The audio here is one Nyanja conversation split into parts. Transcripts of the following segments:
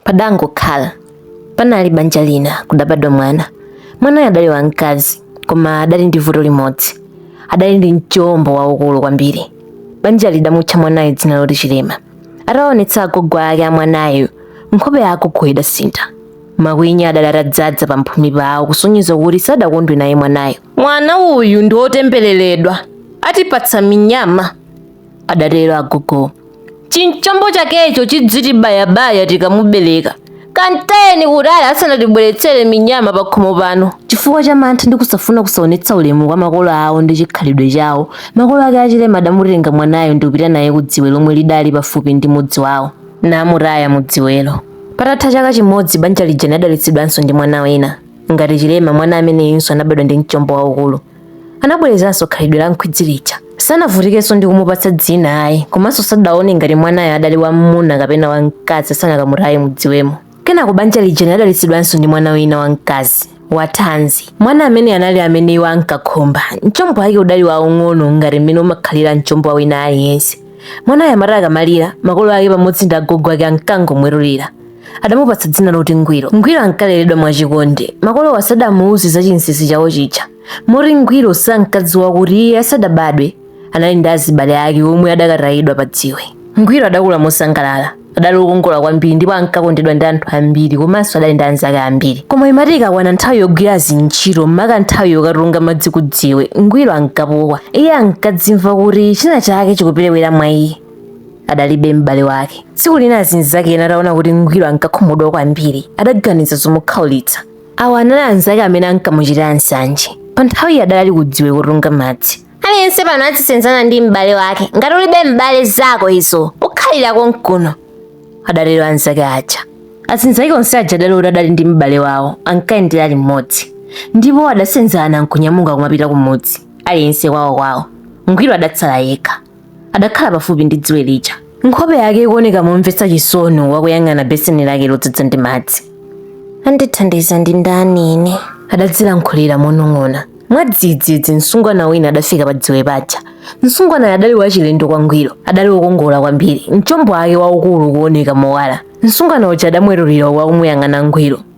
Padangokhala panali banja lina kudabadwa mwana. Mwanayo adali wamkazi koma adali ndi vuto limodzi, adali ndi mchombo waukulu kwambiri. Banja lidamutcha mwanayo dzina loti Chilema. Ataonetsa agogo ake a mwanayo, nkhope ya agogo idasintha. Makwinya adali atadzaza pamphumi pawo kusonyeza kuti sadakondwe naye mwanayo. Mwana uyu ndi wotembereredwa, atipatsa minyama. adatero agogowo. Chimchombo chakecho chidzitibayabaya tikamubereka. Kantayeni kutali asanatibweretsere minyama pakhomo pano. Chifukwa cha mantha ndi kusafuna kusaonetsa ulemu kwa makolo awo ndi chikhalidwe chawo, makolo ake a Chilema adamutenga mwanayo ndi kupita naye ku dziwe lomwe lidali pafupi ndi mudzi wawo, namutaya mu dziwelo. Patatha chaka chimodzi, banja lija linadalitsidwanso ndi mwana wina. Ngati Chilema, mwana ameneyunso anabadwa ndi mchombo waukulu. anabwerezanso khalidwe la nkhwidzi lija sanavutikenso ndi kumupatsa dzina ayi komanso sadaone ngati mwanayo adali wam'muna kapena wamkazi asanakamutaye mudziwemo kenako banja lija linadalitsidwanso ndi mwana wina wamkazi wathanzi mwana ameneyu anali amene iwo ankakhumba mchombo wake udali waung'ono ngati mmene umakhalira mchombo wa wina aliyense mwanayo amati akamalira makolo ake pamodzi ndi agogo ake ankangomwetulira adamupatsa dzina loti ngwiro ngwiro ankaleredwa mwachikondi makolowo sadamuuze za chinsinsi chawo chija moti ngwiro sankadziwa kuti iye asadabadwe anali ndi azibale ake omwe adakatayidwa pa dziwe ngwiro adakula mosangalala adali okongola kwambiri ndipo ankakondedwa ndi anthu ambiri komanso adali ndi anzake ambiri koma imati ikakwana nthawi yogwira zintchito mmaka nthawi yokatunga madzi kudziwe ngwiro ankapukwa iye ankadzimva kuti china chake chikuperewera mwa iye adalibe m'bale wake tsiku lina azinzake ena ataona kuti ngwiro ankakhumudwa kwambiri adaganiza zomukhaulitsa awa anali anzake amene ankamuchitira nsanje pa nthawiyi adali kudziwe kutunga madzi aliyense pano adzisenzana ndi m'bale wake ngati ulibe m'bale zako izo ukhalira konkuno adatero anzake aja azinzake onse aja adali kuti adali ndi m'bale wawo ankayendera limodzi ndipo adasenzana nkunyamuka kumapita kumudzi aliyense kwawo kwawo ngwiro adatsala yekha adakhala pafupi ndi dziwe lija nkhope yake ikuoneka momvetsa chisoni wakuyang'ana beseni lake lodzadza ndi madzi andithandiza ndi ndani ine adadzilankhulira monong'ona mwadzidzidzi msungwana wina adafika padziwe paja msungwanayo adali wachilendo kwangwiro adali wokongola kwambiri mchombo wake waukulu ukuoneka mowala msungwana uja adamwetulira wakumuyang'ana ngwiro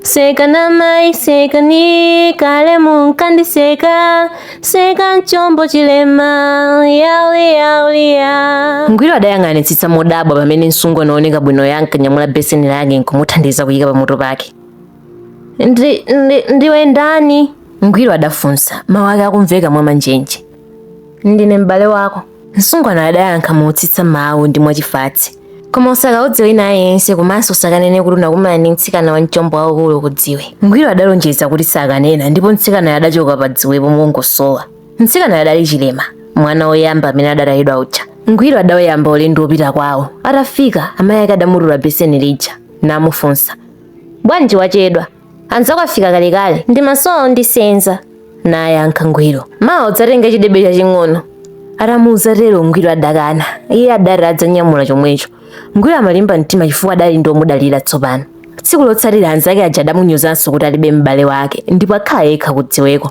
Seka na mai seka ni kale munkandiseka seka mchombo chilema yauli yauli ya ngwiro adayang'anitsitsa modabwa pamene msungwana wooneka bwinoyo ankanyamula beseni lake nkumuthandiza kuyika pamutu pake ndi, ndi, ndiwe ndani ngwiro adafunsa mawu ake akumveka mwa manjenje Ndine m'bale wako. Msungwanayo adayankha motsitsa mawu ndi mwachifatse. Koma usakauze wina aliyense komanso usakanene kuti unakumana ndi mtsikana wa mchombo waukulu kudziwe. Ngwiro adalonjeza kuti sakanena ndipo mtsikanayo adachoka pa dziwepo mongosowa. Mtsikanayo adali chilema, mwana woyamba amene adatayidwa uja. Ngwiro adauyamba ulendo wopita kwawo. Atafika, amayi ake adamutula beseni lija namufunsa. Bwanji wachedwa? anzako afika kalekale ndimasowa ondisenza anayankha ngwiro mawa udzatenge chidebe chaching'ono atamuuza tero ngwiro adakana iye adati adzanyamula chomwecho ngwiro amalimba mtima chifukwa adali ndi omudalira tsopano tsiku lotsatira anzake aja adamunyozanso kuti alibe m'bale wake ndipo akhala yekha kudziweko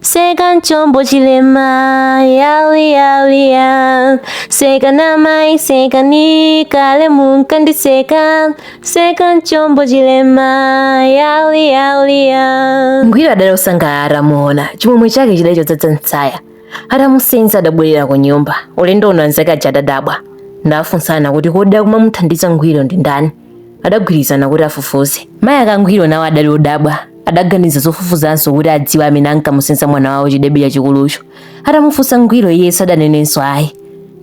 Seka mchombo chilema yawi yawi ya seka n'amayi seka ni kale munkandiseka seka mchombo chilema yawi yawi ya ngwiro adali osangalala atamuona chimwemwe chake chidali chodzadza m'tsaya atamusenza adabwerera ku nyumba ulendo uno anzake aja adadabwa adafunsana kuti kodi akumamuthandiza ngwiro ndi ndani adagwirizana kuti afufuze mayi ake a ngwiro nawo adali odabwa adaganiza zofufuzanso kuti adziwe amene ankamusenza mwana wawo chidebe chachikulucho atamufunsa ngwiro iye sadanenebe ayi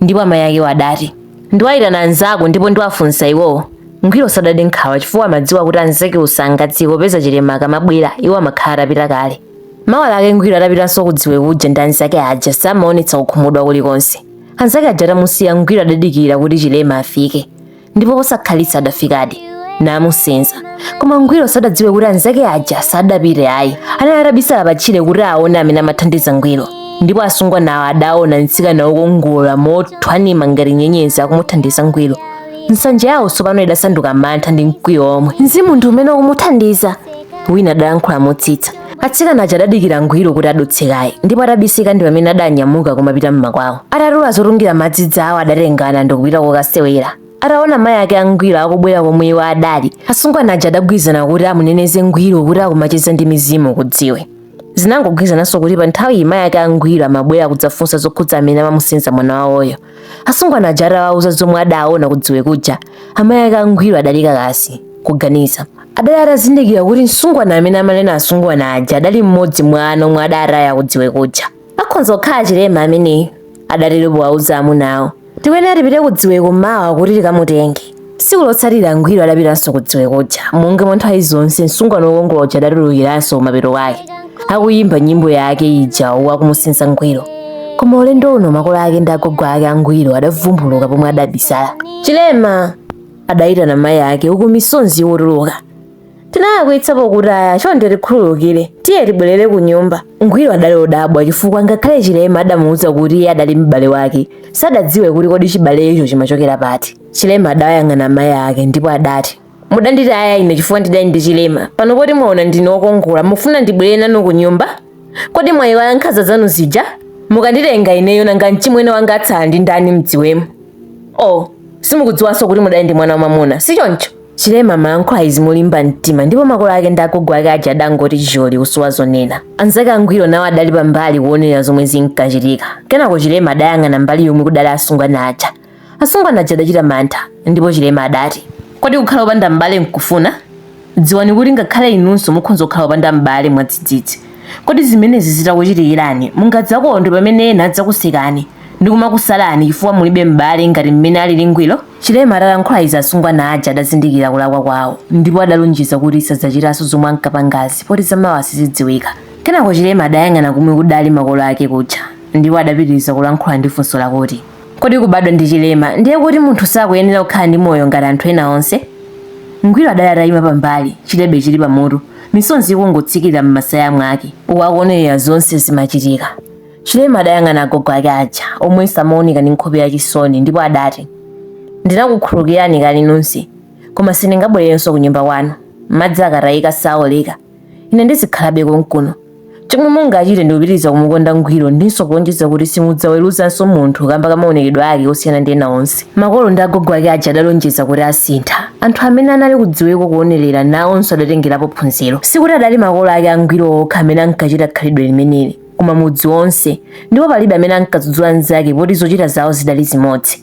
ndipo amayi akewo adati ndiwayitana anzako ndipo ndiwafunsa iwowo ngwiro sadade nkhawa chifukwa amadziwa kuti anzake wo sangadziwe popeza chilema akamabwera iwo amakhala atapita kale mawa lake ngwiro adapitanso kudziwe kuja ndi anzake aja samaonetsa kukhumudwa kulikonse anzake aja atamusiya ngwiro adadikira kuti chilema afike ndipo posakhalitsa adafikadi namusenza koma ngwiro sadadziwe kuti anzake aja sadapite ayi anali atabisala patchire kuti aone amene amathandiza ngwiro ndipo asungwanawo adaona mtsikana wokongola mothwanima ngati nyenyezi akumuthandiza ngwiro nsanje yawo tsopano idasanduka mantha ndi mkwiyo omwe mzimu ndi umene ukumuthandiza wina adalankhula motsitsa atsikana aja adadikira ngwiro kuti adutse kaye ndipo atabisika ndi pamene adanyamuka kumapita mmakwawo atatula zotungira madzi zawo adatengana ndikupita kokasewera ataona mayi ake a ngwiro akubwera komwe iwo adali asungwana aja adagwirizana kuti amuneneze ngwiro kuti akumacheza ndi mizimu kudziwe zinangogwirizananso kuti pa nthawi iyi mayi ake a ngwiro amabwera kudzafunsa zokhudza amene amamusenza mwana wawoyo asungwana aja atawauza zomwe adaona kudziwe kuja amayi ake a ngwiro adali kakasi kuganiza adali atazindikira kuti msungwana amene amanena asungwana aja adali mmodzi mwa ana omwe adataya kudziwe kuja akhonza kukhala chilema ameneyo adatero powawuza amunawo tikuyenera tipite kudziweko mawa kuti tikamutenge tsiku lotsatira ngwiro adapitanso kudziwe kuja monga mwa nthawi zonse msungwana wokongola uja adatulukiranso mapeto ake akuyimba nyimbo yake ija akumusenza ngwiro koma ulendo uno makolo ake ndi agogo ake a ngwiro adavumbuluka pomwe adabisala chilema adayitana mayi ake uku misozi ikutuluka tinalakwitsa pokutaya chonde tikhululukire tiye tibwerere ku nyumba ngwiro adali odabwa chifukwa ngakhale chilema adamuwuza kuti iye adali m'bale wake sadadziwe kuti kodi chibalecho chimachokera pati Chilema adayang'ana mayi ake ndipo adati, Mudanditaya ine chifukwa ndidali ndi chilema. Pano poti mwaona ndine wokongola, mufuna ndibwerere nanu kunyumba? Kodi mwaiwala nkhanza zanu zija? Mukanditenga ineyo nanga mchimwene wanga atsala ndi ndani mdziwemu? Oh, simukudziwanso kuti mudali ndi mwana wamwamuna, si choncho? Chilema amalankhula izi molimba mtima ndipo makolo ake ndi agogo ake aja adangoti choli kusowa zonena. Anzake a Ngwiro nawo adali pambali kuonera zomwe zinkachitika. Kenako Chilema adayang'ana mbali yomwe kudali asungwana aja Asungwana aja adachita mantha ndipo Chilema adati, Kodi kukhala opanda m'bale nkufuna? Dziwani kuti ngakhale inunso mukhoza kukhala opanda m'bale mwadzidzidzi. Kodi zimenezi zitakuchitikirani, mungadzakondwe pamene ena adzakusekani ndi kumakusalani chifukwa mulibe m'bale ngati mmene alili Ngwiro? Chilema atalankhula izi asungwana aja adazindikira kulakwa kwawo ndipo adalonjeza kuti sadzachitanso zomwe ankapangazi poti zamawa sizidziwika. Kenako Chilema adayang'ana komwe kudali makolo ake kuja ndipo adapitiriza kulankhula ndi funso lakuti. kodi kubadwa ndi chilema ndiye kuti munthu sakuyenera kukhala ndi moyo ngati anthu ena onse ngwiro adali atayima pambali chilebe chili pamutu misozi ikungotsikira m'masaya mwake uku akuonerera zonse zimachitika chilema adayang'ana agogo ake aja omwe samaoneka ndi nkhope ya chisoni ndipo adati ndinakukhululukirani kale nonse koma sindingabwererenso ku nyumba kwanu madzi akatayika saoleka ine ndizikhalabe konkuno chomwe mungachite ndikupitiriza kumukonda ngwiro ndinso kulonjeza kuti simudzaweruzanso munthu kamba ka maonekedwe ake osiyana ndi ena onse makolo ndi agogo ake aja adalonjeza kuti asintha anthu amene anali kudziweko kuonerera nawonso adatengerapo phunziro sikuti adali makolo ake a ngwiro okha amene ankachita khalidwe limeneli koma mudzi wonse ndipo palibe amene ankadzudzula mnzake poti zochita zawo zidali zimodzi